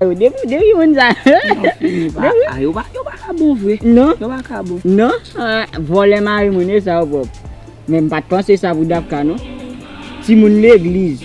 Yo depi w depi moun sa. A yo pa ka bon vre. Non. Yo pa ka bon. Non. Vòlè mari moun e sa yo pwòp. Men m pa t panse sa pou Dapka non. Timoun legliz.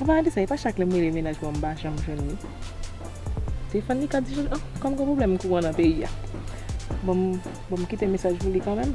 An palan de sa, e pa chak lè m rele mennaj mwen m pa janm jwenn li. Defann li ka di jan l an, kòm gen pwoblèm kouran nan peyi a. Bon, bon m kite mesaj pou li kanmenm.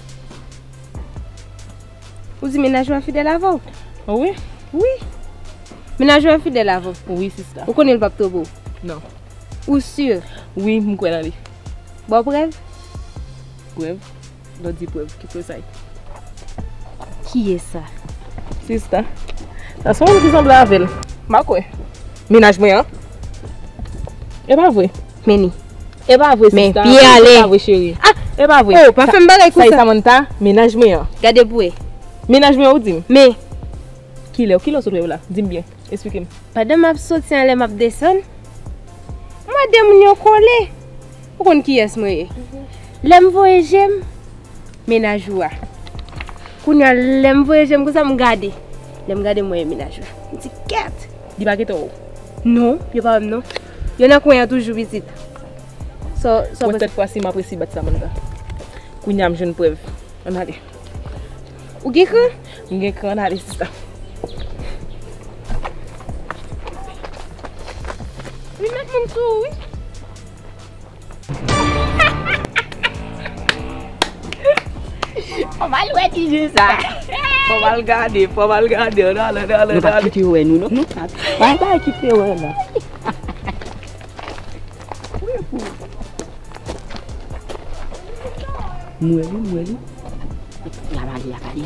Ou di mennaj ou a fidèl avè w? O wi. Wi. Mennaj ou a fidèl avè w? Wi sista. Ou konnen l pap twonpe w? Non. Ou si? Wi, m kwè nan li. Ba w prèv? Prèv? Lè w di prèv, ki prèv sa ye? Kiyès sa? Sista, sa se yon moun ki sanble avè l. M pa kwè. Mennaj mwen an? E pa vre? Meni. Epa vre sista oh epa vre cheri epa vre Saï Samantha mennaj mwen an gade pou e mennaj mwen an ou dim men kilè ou kilè ou sot wè yo la dim byen esplike m pandan map soti anlè map desann m wè de moun yo kole ou konn kiyès mwen ye lèm voye je m mennaj ou a kounya lèm voye je m konsa m gade lèm gade m wè e mennaj ou la m di kèt li pa gen tò non yo pa wè m non. Yo nan kwen an toujou pitit. Sa w panse? Mwen sèt fwa si m ap resi bat Samantha. Kounye a m jwenn prèv. An n ale. Ou gen kran? M gen kran. An n ale sista. Ou met moun sou ou wi. Fòm al wè ti jè sa. Fòm al gade, fòm al gade. An ale, an ale, an ale. Nou pa kite yo wè nou non. Nou pa kite yo wè nou. M wè li, m wè li. Y ap ale, y ap ale.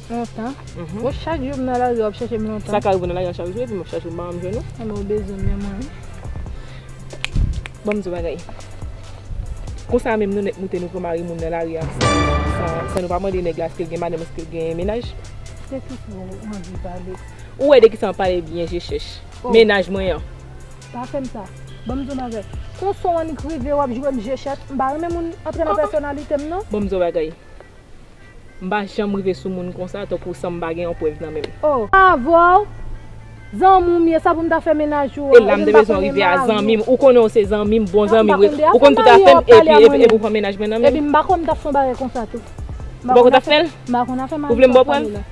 Lontan. Bon chak jou m nan lari wap chèche m lontan. Sa ka rive w nan lari a chak jou epi map chèche w m pa janm jwenn ou. Emen ou bezwen m menm wi. Banm di w bagay. Konsa menm nou nèt moute nou pran mari moun nan lari a san nou pa mande nèg la eske l gen madanm eske l gen menaj. Se ki sa ou anvi pale. Ou wè de kisa map pale byen je chèch. Menaj mwen an. Pa fè m sa. Banm di w bagay. Konsa w annik rive wap jwe m je chèch. M pa renmen moun antre nan pèsonalite m non. Banm di w bagay. M pa janm rive sou moun konsa tankou san m pa gen yon prèv nan menm. Oh! M pa avè w zanmi m ye sa pou m ta fè menaj ou an. E la m te bezwen rive a zanmi m. Ou konnen w se zanmi m, bon zanmi m wi. Ou konn tout afè m epi ou pran menaj mwen nan menm. Epi m pa konn m ta fè yon bagay konsa tou. Ou pa konn w ta fè l? M pa konn afè maryaj ak fanmi lan.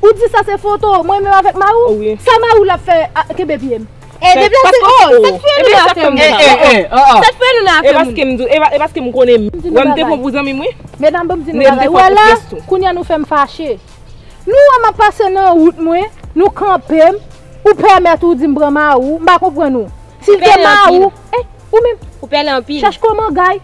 Ou di sa se foto mwen menm avèk Marou? Sa Marou la fè a kenbe pye m? E depi lè se oo Sa t fè nou nan afè moun sa oo Sa t fè nou nan afè moun sa oo E paske m konnen m wè m te pran pou zanmi m wi Medam banm di nou bagay ou wè la Kounye a nou fè m fache Nou wè m ap pase nan wout mwen Nou kanpe m Ou pèmèt ou di m pran Marou M pa konprann ou Si l te Marou Ou menm Chèch kòman gay.